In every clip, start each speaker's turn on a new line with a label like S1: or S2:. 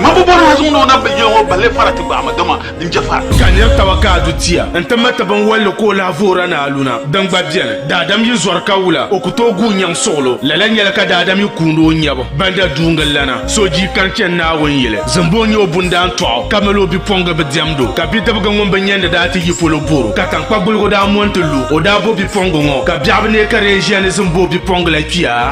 S1: Ŋun bi bɔri ha zuŋdi o naba yili ŋɔ balli fara ti gbaai ma, dama din je fara. Ka nir taba ka a du
S2: tia nti ma ti binwalli ka o lahi voora ni aluna, din gba beni. Daadam yi zɔri ka wula, o ku tooi guui nyaŋ suɣilo. Lala nyɛla ka daadam yi kuundi o nyɛbu banda duuŋil lana. So jii ka n chani Naawuni yili, zimbu n-nyɛ o bundaan tɔɣu, ka mali o bipuɣiŋgi bi diɛmd o. Ka bidibigi ŋun bi nyandi daa ti yi polo bɔr o, ka taŋkpa guligu daa mo nti lu o. O daa bo bipuɣiŋgi ŋɔ, ka biɛɣu bi neei ka di yɛn ʒiya ni zimbu o bipuɣiŋgi la kpiya.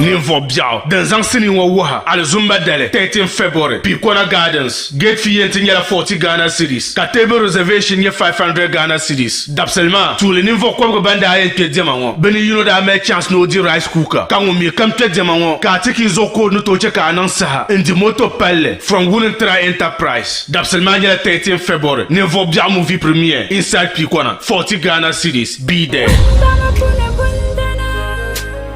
S2: Ninvuɣ biɛɣu din zaŋ sinii ŋɔ wuhi alizumba dali 13 February, Picona Gardens, Gate fee yɛn ti nyɛla 40 Ghana cedis ka table reservation nyɛ 500 Ghana cedis. Dabisili maa, tuuli ninvuɣ kɔbigu ban daa yɛn kpe diɛma ŋɔ, bɛ ni yino daa mali chance ni o di rice cooker ka ŋun mi kam kpe diɛma ŋɔ ka a ti ki zuɣu ka o ni tooi chɛ ka a niŋ saha n-di moto palli from Wulintra Enterprise. Dabisili maa nyɛla 13 February, ninvuɣ biɛɣu movie premiere inside Picona, 40 Ghana cedis, be there.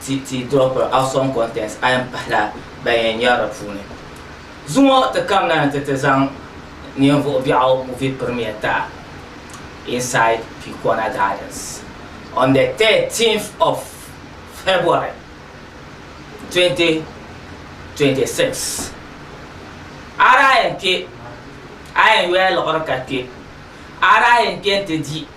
S3: ti ti dropping out some contents a yɛn pahila ban yɛn nyari di puuni. Zuŋɔ ti kamina ni ti ti zaŋ ninvuɣ biɛɣu movie premiere ta inside Pikona Gardens on the 13th of February 2026. A daa yɛn kpe a yɛn yoya liɣiri ka kpe a daa yɛn kpe nti di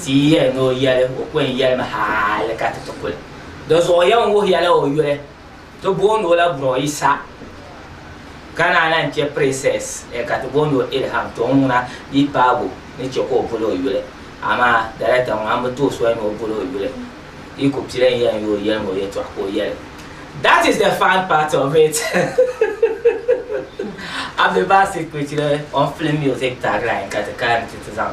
S3: Ti yi yɛli ni o yɛli, o ku yɛn yɛlimi hali ka ti ti kuli. Di zuɣu yɛn wuhiya la o yuli, ti booni o la Bro Isa, ka naan lan chɛ Princess eh, ka ti booni o Ilham, tɔŋ ŋuna di paabu ni chɛ ka o boli o yuli. Amaa Director ŋɔ, a ni bi tooi soli ni o boli o yuli, di ku pili n yɛli n yooi yɛlimi o yɛltɔɣa ka o yɛli. That is the fun part of it Abdul Basit Kpecile on film music tagline ka ti kana nti ti zaŋ.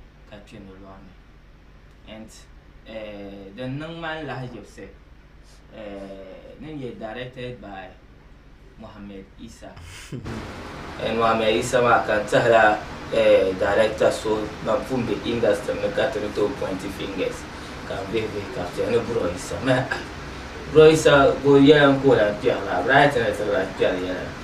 S3: ka kpe ni lɔɣini. And uh, din niŋ ma n lahiʒibsi uh, ni nyɛ directed by Mohammed Isa. And Mohammed Isa maa ka n tihila uh, director so ban pun be industry ni ka ti ni tooi pointi fingers ka n vihi vihi ka kpe ni Bro Isa. Mah, Bro Isa, ko yɛla n ka o lan kpɛri la, right ni ti lan kpɛri yɛla.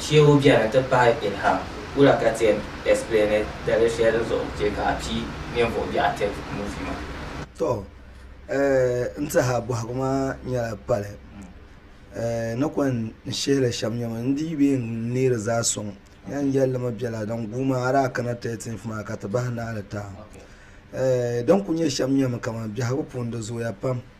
S3: Shehu beni ti pahi Ilham wula ka ti yɛn explaini dalili shɛli zuɣu n chɛ ka a pii ninvuɣ biɛɣu attempt
S4: movie maa? Tɔ, n ti ha bɔhigu maa nyɛla pali ni kɔŋ n shihi li shɛm nyɛma n dii bee n neeri zaa sɔŋ yɛn yɛli li mi bela din guui maa a daa kana 13th maa ka ti bahi naali taai din ku nyɛ shɛm nyɛmi kaman biɛhigu puuni di zooya pam.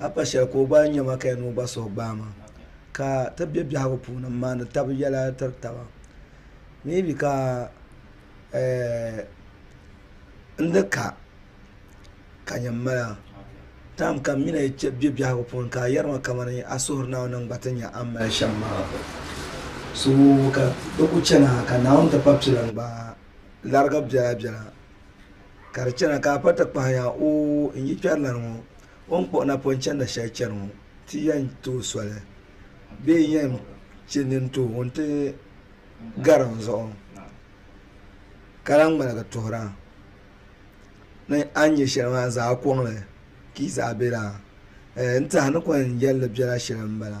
S4: a pa shɛli ka o gba nya ma ka yɛn ni o gba suhu gbaai ma ka ti be biɛhigu puuni m-maani taba yɛla tiri taba maybe ka eh n ni ka ka nya m-mali a time kam mi ni yi chɛ be biɛhigu puuni ka a yɛri ma kamani a suhuri Naawuni ni n gba ti nya a ni mali shɛm maa so ka di kuli chana ka Naawuni ti pa pila n-gbaai larigi biɛla biɛla Ka di chana ka a pa ti kpahi ya, oo, n yi kpɛrilana ŋɔ, o ni kpuɣi napɔn chanda shɛli chani ŋɔ, ti yɛn tooi soli, bee n yɛn chɛ nini ti o ŋun ti gari n zuɣu ka lahi ŋmaligi tuhira ni a ni nyɛ shɛli maa n zaai kɔŋ li ka yi zaai be laa? Ɛɛ, n tehinikɔŋ yɛlli bela shɛli m-bala.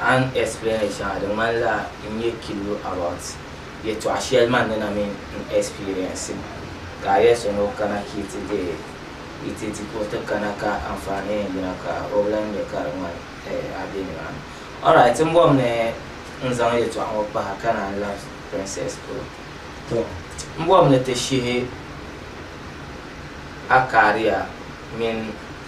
S3: A ni explain li shɛŋa di ŋmanila n nyɛ killo about yɛtɔɣ shɛli man ni na min n experience mi ka a yɛli so ni o kana ka yi ti deei yi ti di ka o ti kana ka anfaani yɛn yina ka o bi lan nya ka di ŋmani a be nimaani. Alright n bɔbi ni n zaŋ yɛtɔɣ ŋɔ kpahi ka naan labi Princess polo. Tɔ m bɔbi ni ti shihi a kariya mini.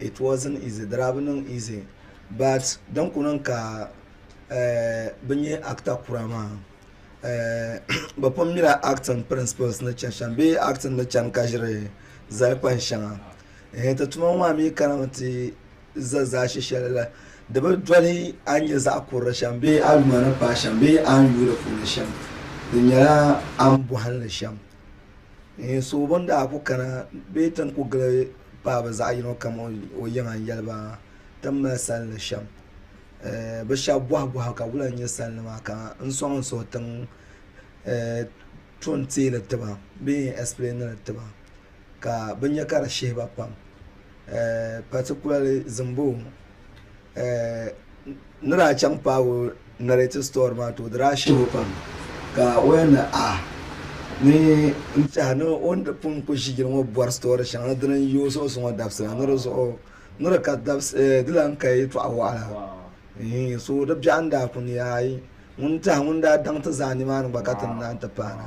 S4: it wasn't easy di daa bi niŋ easy but din kuli niŋ ka bi nyɛ actor kura maa bi pun mila acting principles ni chani shɛm bee acting ni chani ka ʒiri zali kpani shɛŋa ti tuma ŋɔ maa mi kana mi ti za zaashɛ shɛli la di bi doli a ni nyɛ zaɣ kurili shɛm bee a yuma ni paai shɛm bee a ni yuui di puuni shɛm di nyɛla a ni bɔhili shɛm so bini daa kuli kana bee ti ni kuli gili paɣaba zaɣ yino kam o yiŋa n yɛli ba ti ni mali salindi shɛm bi shab boɣa boɣa ka bi lahi nyɛ salindi maa ka n soŋ n suhu tiŋ tuun tiili tiba bee n ɛspilɛɛniri tiba ka bi nyɛ ka di shihi ba pam paatikulali zimbu N ni daa chaŋ paag o narrative story maa too di daa shib o pam ka o yɛn ni ah ni n tɛha ni o ni di pun ku ʒi yili ŋɔ bɔri story shɛŋa ni dini n-yi o suɣusi ŋɔ dabisi la ni di zuɣu ni di ka dabisi di lan ka yɛtɔɣ wɔɣila eeh so di biɛɣu n-daa ku ni aai ŋun tɛha ŋun daa daŋ ti zaa nimaani gba ka ti ni naan ti paana.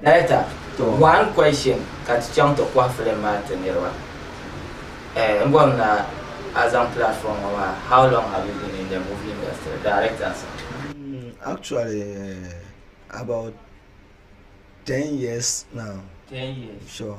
S3: Director, one question ka ti chaŋ ti kɔhi film maa ti niriba. Eh, n bɔri na a zaŋ platform ŋɔ maa, how long have you been in the movie industry? Directors. Actually
S4: about ten years now. Ten years.
S3: Sure.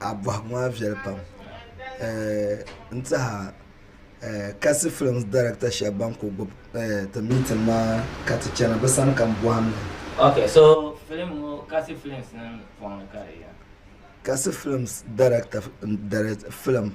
S4: A bɔhigu maa viɛli pam n tiɛha kasi films director shɛba ban ku gbubi ti meeting maa ka ti chana bɛ sani ka m bɔhim li. Ok, so
S3: film ŋɔ Kasi films nim pɔŋ ni ka di yɛn. Kasi
S4: films director n direct film.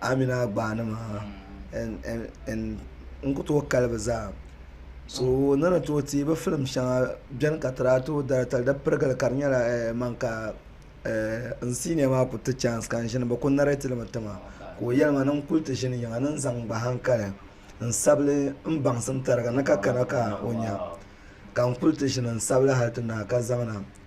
S4: Amina gbaani maa n ku tooi kali bi zaa so ni ni tooi teei bi filim shɛŋa biɛni ka ti daa tooi daratali di pirigili ka di nyɛla man ka n siiniya maa ku ti chaans ka n ʒini bi ku nɛrɛtiri mi tiŋa ka o yɛli ma ni n kuli ti ʒini yiŋa ni n zaŋ n gba hankali n sabigi n baŋsim tariga ni ka kana ka o nya ka n kuli ti ʒini n sabigi hali ti naai ka zaŋna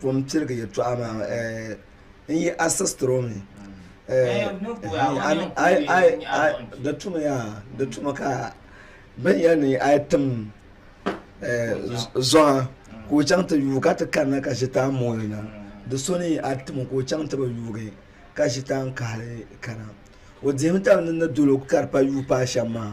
S4: ko n pirigi yɛtɔɣa maa n yi a sistiri o mi di tumi yaa di tumi ka bin yɛli ni a yi tim zɔha ka o chaŋ ti yuui ka ti kanna ka ʒitan mooi na di so ni a tim ka o chaŋ ti bi yuui ka ʒitan kahali kana o dihimi taba ni ni dolo ka di pa yuui paai shɛm maa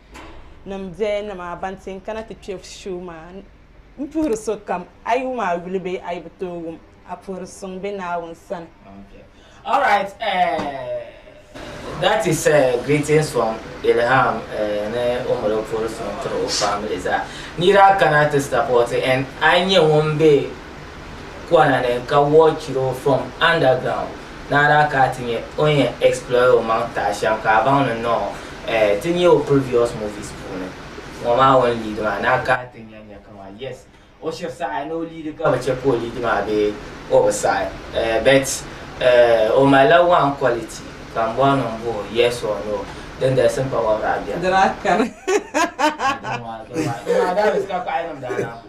S5: nim biɛya ni maa ban ti yɛn kana ti kpɛ shoo maa n puhiri sokam a yi wum a yuli bee a yi bi tooi wum a puhiri suŋ bɛ Naawuni sani.
S3: Okay. All right. Uh, that is uh, greetings from Ilham uh, ne Omolo Forson to family za. Nira kana to support and I knew one day kɔna ni ka wɔɔ chiro from underground ni a daa ka a ti nya o ni yɛn explore o maŋ taai shɛm ka a baŋ ni nɔɔ eh, ti nya o previous movies puuni ŋɔ maa o ni lead maa ni a ka a ti nya nya kaman yes o shiri saɣi ni o lead ka bi chɛ ka o lead maa bee o bi saɣi eh, but eh, o malila one quality ka m bɔri ni m bo o yes or no din galisi m pa wɔbiri a biɛm. Dira kani. Adama, dama, dama,
S5: that is ka kpaɣilim daa na.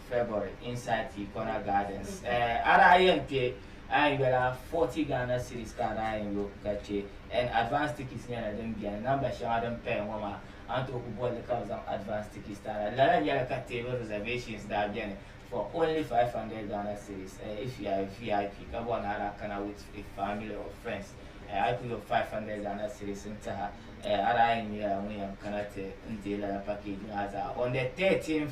S3: February, Insight Ikona Gardens a daa yɛn kpe a ni yoli a 40 Ghana cedis ka a daa yɛn lo ka che and advance tickets nyɛla din beni namba shɛŋa din paya ŋɔ maa a ni tooi kuli boli li ka bɛ zaŋ advance tickets ti a la lala nyɛla ka table reservations daa beni for only 500 Ghana cedis if you are a VIP ka bɔri ni a daa kana with a family or friends a yi kuli lo 500 Ghana cedis n tiha a daa yɛn nyɛla ŋun yɛn kana ti n deei lala package maa zaa on the 13th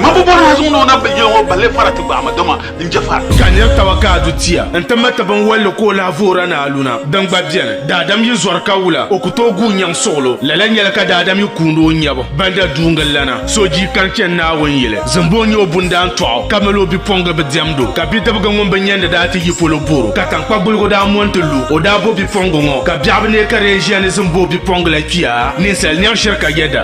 S1: Mambo bɔri ha zuŋu ni o nabi yili ŋɔ balli fara ti gbaai ma dama n je fara. Ka nir taba ka a du
S2: tia nti ma ti binwalli ka o lahi voora ni aluna din gba beni. Daadam yi zɔri ka wula o ku tooi guui nyaŋ suɣilo. Lala nyɛla ka daadam yi kuundi o nyɛbu ban da duungi lana. So jii kani chani Naawuni yili zimbu o nyɛ o bundaan tɔɣ o ka mali o bipuɣingi bi diɛmd o. Ka bidibiga ŋun bi nyandi daa ti yi polo bor o ka taŋkpa guligu daa mo nti lu o. Daa bo bipuɣingi ŋɔ ka biɛɣu bi neei ka di yɛn ʒiya ni zimbu o bipuɣingi la kpiya ninsal nyaŋ shiri ka yɛ da.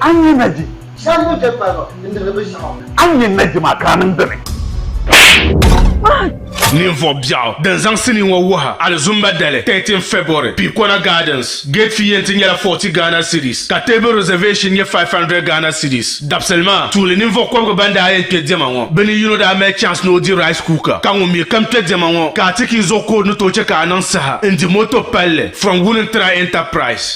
S6: A ni nyɛ Naji? Shɛm ni bɛ kpariba n-dihiri binshɛɣu. A ni nyɛ Naji maa ka
S2: a niŋ dini? Ninvuɣ biɛɣu din zaŋ sinii ŋɔ wuhi alizumba dali 13 February, Piikona Gardens. Gate fee yɛn ti nyɛla 40 Ghana cedis ka table reservation nyɛ 500 Ghana cedis. Dabisili maa, tuuli ninvuɣ kɔbigu ban daa yɛn kpe diɛma ŋɔ, bɛ ni yino daa mali chance ni o di rice cooker, ka ŋun mi kam kpe diɛma ŋɔ ka a ti ka i zuɣu ka o ni tooi chɛ ka a niŋ saha n-di moto palli from Wulintra Enterprise.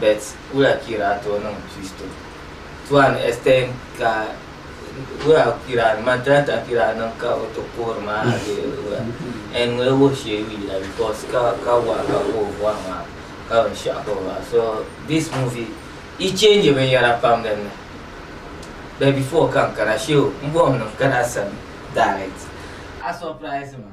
S3: Bet wula kira to niŋ Kristo tuan Estein ka wula kira ni madrata kira niŋ ka o ti kuhiri maa a bee wula en ŋun wuhi shee yu yila because ka ka wa ka ka o bɔhi maa ka binshaɣu ka o maa so this movie i change binyɛra pam din ni but before ka n kana shee o n bɔhim ni n kana sani direct a surprise ma.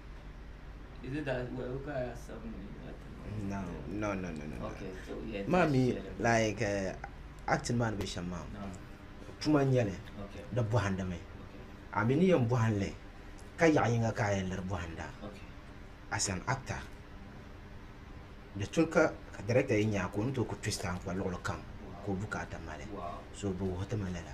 S3: Is it that
S7: well
S3: look at seven No, no, no, no, no. Okay, so yeah.
S7: Mommy, like uh, acting man be sham mom. No. Tuma nyɛli di bɔhindi
S3: mi
S7: a mi ni yɛn bɔhinli ka yaɣa yinga ka a yɛn liri bɔhinda
S3: as an
S7: actor di tuli ka director yɛn nyaa ka o ni tooi ku twist a n kpa luɣuli kam ka o bukaata mali so bi wuhi ti ma lala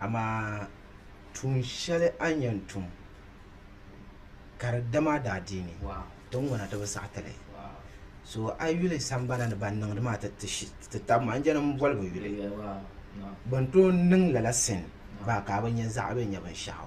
S7: Amaa tuun shɛli a ni yɛn tum, ka di dam a daadiini, ti ŋuna ti
S3: bi saɣi
S7: ti li. So
S3: a
S7: yuli sambana ni ban niŋdi maa ti tab ma, n-je ni m boli bɛ yuli.
S3: Bɛ ni tooi niŋ
S7: lala sin baa ka a bi nya zaɣi bɛn nyɛ binshɛɣu.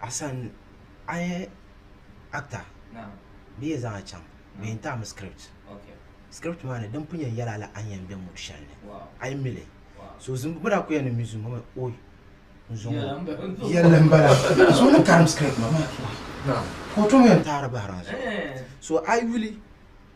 S7: Asan a yɛ akta
S3: bee yɛn zaŋ a chaŋ
S7: bee yɛn taai mi script script
S3: maa ni din
S7: pun yɛn yɛli a la a ni yɛn bɛ mood shɛli ni a yi mili so zim bi
S3: daa ku yɛn
S7: ni mi zim hali ooyi n zom o
S3: yɛlli n bala
S7: so ŋun karim script maa
S3: ka o tom yɛn taai
S7: di bahira n zuɣu so a yi yuli.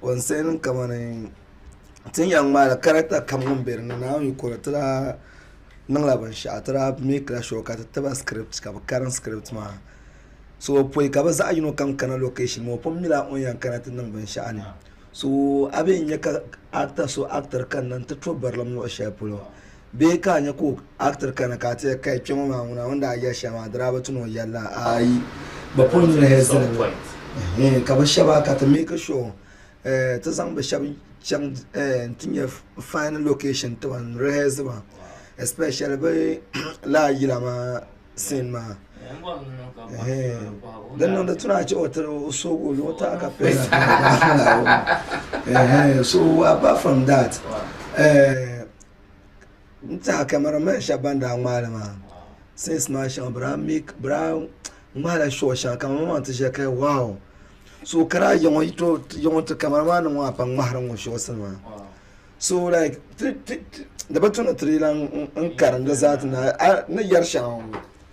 S4: Concerning kamani ti ni yɛn ŋmaai la character kam ŋun bɛ dinni naawuni yi kuri ti daa niŋ la binshaɣu ti daa make la sure ka ti tiba script ka bi karim script maa so bi pɔyi ka bi zaɣi yino kam kana location maa o pun nyɛla o ni yɛn kana ti niŋ binshaɣu ni so a bɛ yɛn nyɛ ka actor so actor kanna n ti to barilim luɣi shɛli polo. Bee ka a nya ka o actor kana ka a ti ya kai kpe ŋɔ maa ŋuna o ni daa yɛli shɛli maa di daa bi ti ni o yɛli la? Aai, bɛ pun niŋ hezin li ehe ka bɛ shɛba ka ti make sure eh ti zaŋ bɛ shɛba chaŋ eh n-ti nya fine location ti ban rehearse ba especially bɛ lala yila maa scene maa ehe din niŋdi ti ni a che o tiri o soogi o luɣu taai ka pili na ehe so apart from that eh. N tiɛha camera man shɛba ban daa ŋmaai li maa since maa shɛŋa bɛ daa make bɛ daa ŋmaai la short shɛŋa ka ŋɔ maa ti ʒiya ka wow so ka daa yiɣi ŋɔ yi too yi ŋɔ ti camera man nim ŋɔ a pam ŋmahiri ŋɔ shorts nima so like ti ti di bi tu ni ti di lan n karim di zaa ti naai a ni yari shɛŋa ŋɔ.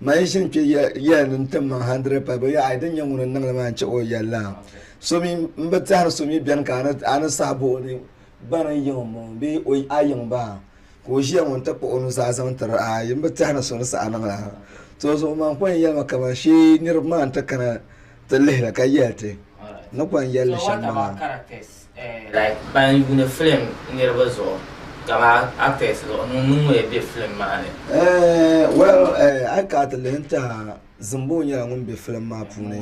S4: Ma yi ʒini kpe yɛli ni n-tim ma hundred pay, bɛ yɛli, Ai, din nyɛ ŋuni n-niŋ li maa n-chɛ o yɛli la. So mi, m bi tɛhiri so mi beni ka a ni sahi bo o ni bani n-yiŋ o m-bɔŋɔ bee a yiŋ ba ka o ʒiya ŋɔ nti kpuɣi o nuzaa zaŋ tiri a, ai, m bi tɛhiri so ni saha niŋ la. Tɔzuɣu man kɔŋ yɛli ma kaman shee niriba maa nti kana ti lihi li ka yɛli ti ni kɔŋ yɛli li shɛm maa.
S3: Like ban yuuni film niriba zuɣu kama actors zuɣu ŋun ŋun ya be film maa ni. Eh, well,
S4: eh, a yi kana ti lihi n-tɛha, Zimbo nyɛla ŋun be film maa puuni,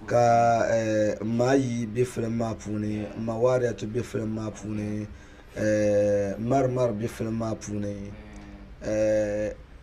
S4: ka eh, m ma ayi be film maa puuni, m ma Wariyatu be film maa puuni, eh, Mari Mari be film maa puuni, eh,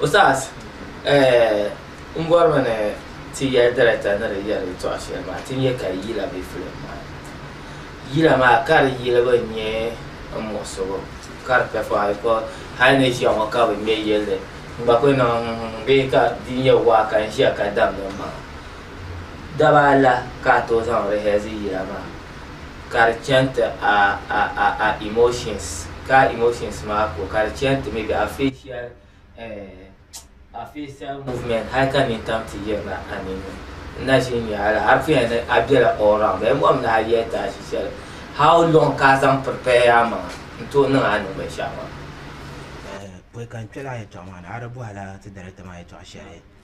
S3: Ustaz eh, n bɔrimi ni ti yɛli director ni di yɛli yɛltɔɣa shɛli maa ti nyɛ ka yila be film maa ni. Yila maa ka di yilibu nyɛ n muɣisigu ka di pɛfɔɣa because hali ni ʒiya ŋɔ ka bi ŋmɛ yilli n gba kuli niŋ bee ka di nyɛ waa ka n ʒiya ka damdi m maŋa. Daba ala ka a tooi zaŋ rehearse yila maa. ka di chani ti a a a a emotions ka a emotions maa ko ka di chani ti maybe a facial eh, a facial movement hali ka nini tam ti yirina a ninni n na ʒin nya ala hali puya ni a bela all round bee mɔm ni a yɛli ti a ʒi shɛli how long ka a zaŋ prepare a maŋa n tooi niŋ a niŋ binshɛɣu maa. Eh,
S7: pɔi ka n kpɛla a yɛltɔɣa maa ni a di bɔhila ti director maa yɛltɔɣa shɛli.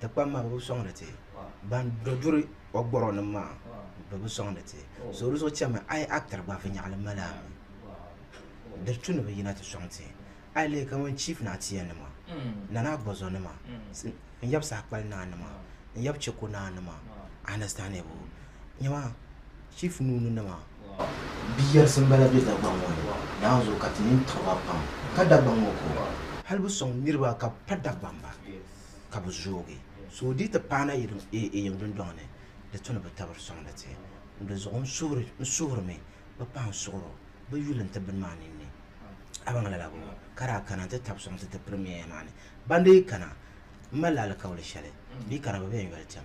S7: Ti kpam maa bɛ bi sɔŋdi ti, ban do duri o gɔrɔnim maa bɛ bi sɔŋdi ti. So di zuɣu chɛmi a yi actor gba viɛnyɛɣili mali a mi. Di tu ni bɛ yina ti sɔŋ ti. A yi lihi kaman Chief Naa Tia nima, Nana Agbɔzɔ nima, n yab saha kpali naa nima, n yab Cheko naa nima, a understand bu? Nyama Chief Nuuni nima. Bi yɛrisi m-bala be Dagbaŋ ŋɔ ni. Naanzu ka ti nini tiɣi ba pam. Ka Dagbaŋ ŋɔ ka o. Hali bi sɔŋ niriba ka bɛ pa Dagbaŋ ba. ka bi zoogi so di yi ti paana yiŋ dundɔŋ ni di tu ni bi tabiri sɔŋdi ti di zuɣu n suhirimi bi pahi n suɣiri o bi yuli n ti bini maa ninni a baŋ lala bɔ ka daa kana n ti tabi sɔŋ ti ti pirimiyeya maa ni ban dii kana n malila alikauli shɛli bee ka di bi bɛ n yoli tɛm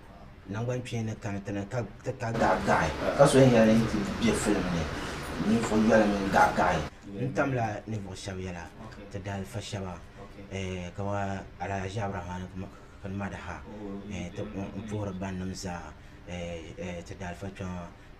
S7: Nangban kpeeni ka ni ti ni ka ti ka gaɣigaɣi. Ka so yɛn yɛli yi ti be filim ni ninvuɣ yoli mini gaɣigaɣi. N tamla ninvuɣ shɛb yɛla, ti daalifa shɛba kamani Alhaji Aburamani Kpini Madaha, n puhiri bannim zaa ti daalifa kpɛma.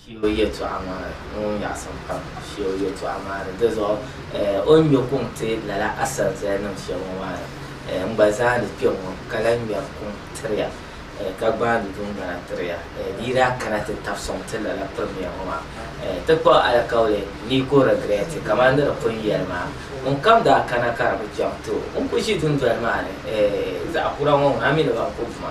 S3: Sheeu yɛtɔɣa maa ŋun nyaɣisim pam. Sheeu yɛtɔɣa maa ni. Dizuɣu o ni ŋme kuŋ ti lala asanzali nim shɛb ŋɔ maa ni, n gba zaani kpe ŋɔ ka lahi ŋmeri kuŋ tiri ya ka gbaandi dundana tiri ya di yi daa kana ti tabi sɔŋ ti lala Premier ŋɔ maa. Ti kpa o alikauli ni ka o regret kamani di ni pun yɛli maa. Ŋun kam daa kana ka di bi chaŋ ti o. N ku ʒi dundoli maa ni zaɣ kura ŋɔ ŋuna mi ni ban ku vuma.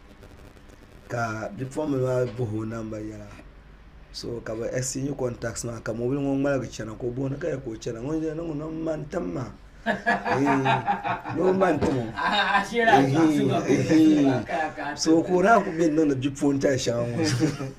S4: ka bipuɣimbila maa bahi o namba yɛla so ka bɛ ɛchingi kɔntaasi nima ka mɔbili ŋɔ ŋmaligi chana ka o bɔhi ni ka yɛli ka o chana ŋun ʒiya niŋmi ni o ma n-tim ma ni o ma n-tim o ehiiii ehiiii so ka o naan ku be ni niŋdi bipuɣintali shɛŋa ŋɔ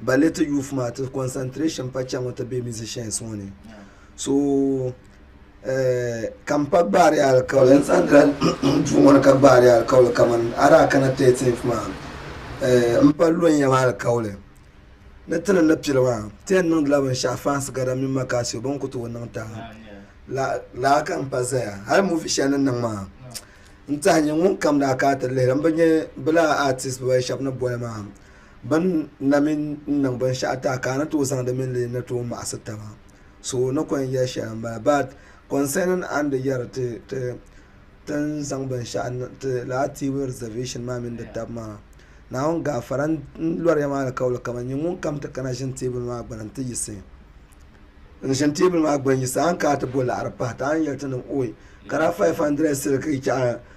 S4: ballet youth maa ti concentration pa chaŋɔ ti be musicians ŋɔ ni so eh, ka m pa gbaari alikauli n zaŋ dira duu ŋɔ ni ka gbaari alikauli kaman adaa kana 13th maa eh, m pa lonya maa alikauli ni ti ni ni pili maa ti yɛn niŋdila binshɛɣu fans gada mini makasio bin ku tooi niŋ taha la laa ka n pa zaya hali movie shɛli ni niŋ maa n tahi nyɛ ŋun kam daa ka ti lihiri m bi nyɛ bilaa artist bibaayi shɛba ni boli maa Bɛn na mi n niŋ binshɛɣu ti a ka a ni tooi zaŋdi mini li ni tooi maɣisi taba. So ni kɔŋ yɛli shɛli m-bala. But concerning a ni di yɛri ti ti ni zaŋ binshɛɣu niŋ ti laatiibu reservation maa mini di taba maa, Naawuni gaafara n-lɔri ya maa alikauli kaman nyini ŋun kam ti kana ʒini teebuli maa gbini nti yiɣisi. N ʒini teebuli maa gbini yiɣisi a ni kana ti bo laɣiri pahi ti a ni yɛli ti ni, Oi! Ka daa 500 sili ka yi chaɣi.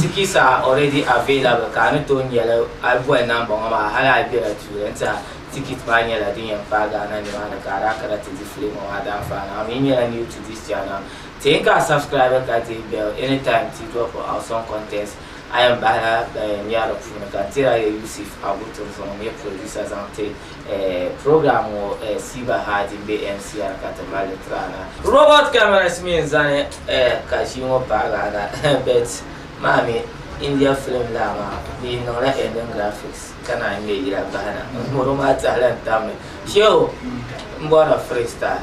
S3: Tickets are already available ka a ni tooi nyɛli a yi boli namba ŋɔ maa hali a yi bela tuuli n-tiɛha ticket maa nyɛla din yɛn paai Ghana nimaani ka a daa kana ti di filim ŋɔ maa daanfaani a mi nyɛla new to this channel teei ka a subscribe ka deei bell anytime ti drop awesome contents a yɛn bahila ban yɛn nya di puuni ka n tiri a ya Yusuf Abu Turizɔŋ n-nyɛ producer zaŋ ti Program ŋɔ Siva Hadi m-be MCR ka ti mali li tiri a na. Robot cameras mi n-zani ka ʒii ŋɔ paagi a na but maa mi India film laa maa di niŋ la ending graphics ka naan ŋme yila bahi na. Ŋɔ maa tahila n-tam mi. Shehu m-bɔri la freestyle.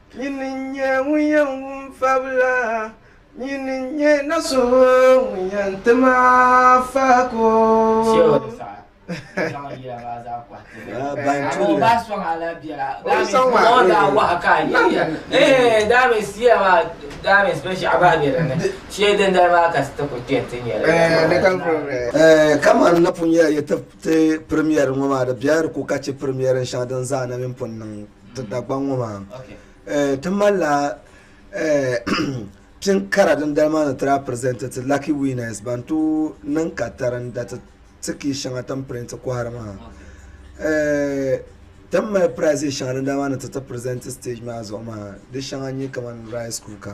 S7: Nyini n-nyɛ ŋun yɛn wum fabila, nyini n-nyɛ na so ŋun yɛn ti ma faako.
S4: Kamani napɔŋ ya yi ti ti pirimiɛri ŋɔ maa, di biɛri ku ka chɛ pirimiɛrin shɛŋa din zaa na mi pun niŋ. ti Dagbaŋ ŋɔ maa ti malila pini kara din dali maa ni ti daa pirizɛnti ti laki wiinɛs ban tooi niŋ katari n dariti ti kii shɛŋa ti ni pirinti kɔhiri maa ti ni mali piraizis shɛŋa din dali maa ni ti ti pirizɛnti sitɛji maa zuɣu maa di shɛŋa n-nyɛ kamani rayis kuuka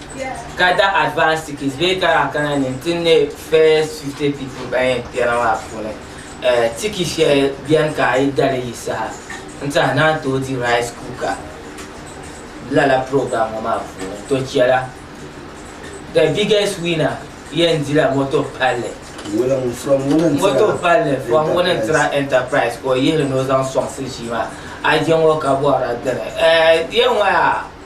S3: Gather advance tickets bee kana kana ni n ti ne first 50 people ban yɛn kpɛna maa puuni eh, tiki shɛli bɛni ka a yi dali yi saha n tiɛha naan tooi di rice cooker lala program ŋɔ maa puuni to chɛla the biggest winner yɛn dila moto palli Wulim from Wulim Tira moto palli fɔm ŋuni n tira Enterprise. enterprise ka o yihili ni o zaŋ sɔŋsi ʒii maa a je ŋɔ ka bɔhira dini eh, yɛn ŋɔ yaa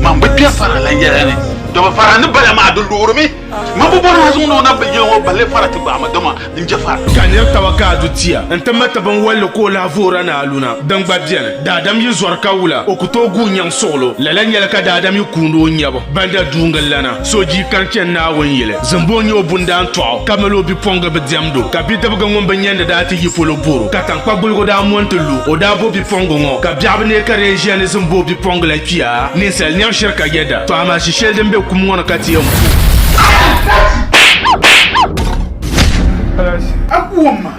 S1: Mambo kpɛ fara la yɛla ni dɔbi fara ni bala maa di luɣurimi mambo bɔri maa zuŋu ni o na bi yili ŋɔ balli fara ti gbaama dama n je fara ka nir taba ka a
S2: du tia n ti mati binwalli ka o lahi voora ni aluna din gba bɛni daadam yi zɔri ka wula o ku tooi guui nyaŋ suɣulo lala nyɛla ka daadam yi kuuni o nyabu banda duuŋ lana So ji ka n chɛn Naawuni yili, zimbu o nya o bundaa n-tɔɣ o, ka mali o bipuɣiŋga bi diɛmd o. Ka bidibiga ŋun bi nyandi daa ti yi polo bɔr o, ka taŋkpa guligu daa mo nti lu o. O daa bo bipuɣiŋga ŋɔ, ka biɛɣu bi neei ka di yɛn ʒiya ni zimbu o bipuɣiŋga la kpia. Ninsal nɛma shiri ka yɛda, tɔ amaa ʒi shɛli din be kum ŋɔ ni ka ti yɛn ku
S1: o.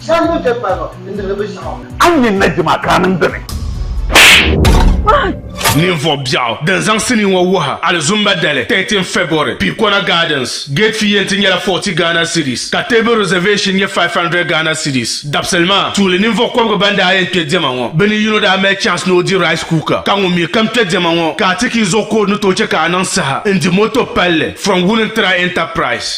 S6: Shɛba ŋun kpe kparibu n-dihiri bɛ ʒiɛɣu. A ni nyɛ Naji maa
S2: ka a niŋ dini? Ninvuɣ biɛɣu din zaŋ sinii ŋɔ wuhi alizumba dali 13 February, Pikona Gardens. Gate fee yɛn ti nyɛla 40 Ghana cedis ka table reservation nyɛ 500 Ghana cedis. Dabisili maa tuuli ninvuɣ kɔbigu ban daa yɛn kpe diɛma ŋɔ, bɛ ni yino daa mali chance ni o di rice cooker ka ŋun mi kam kpe diɛma ŋɔ ka a ti ki zuɣu ka o ni tooi chɛ ka a niŋ saha n-di moto palli from Wulintra Enterprise.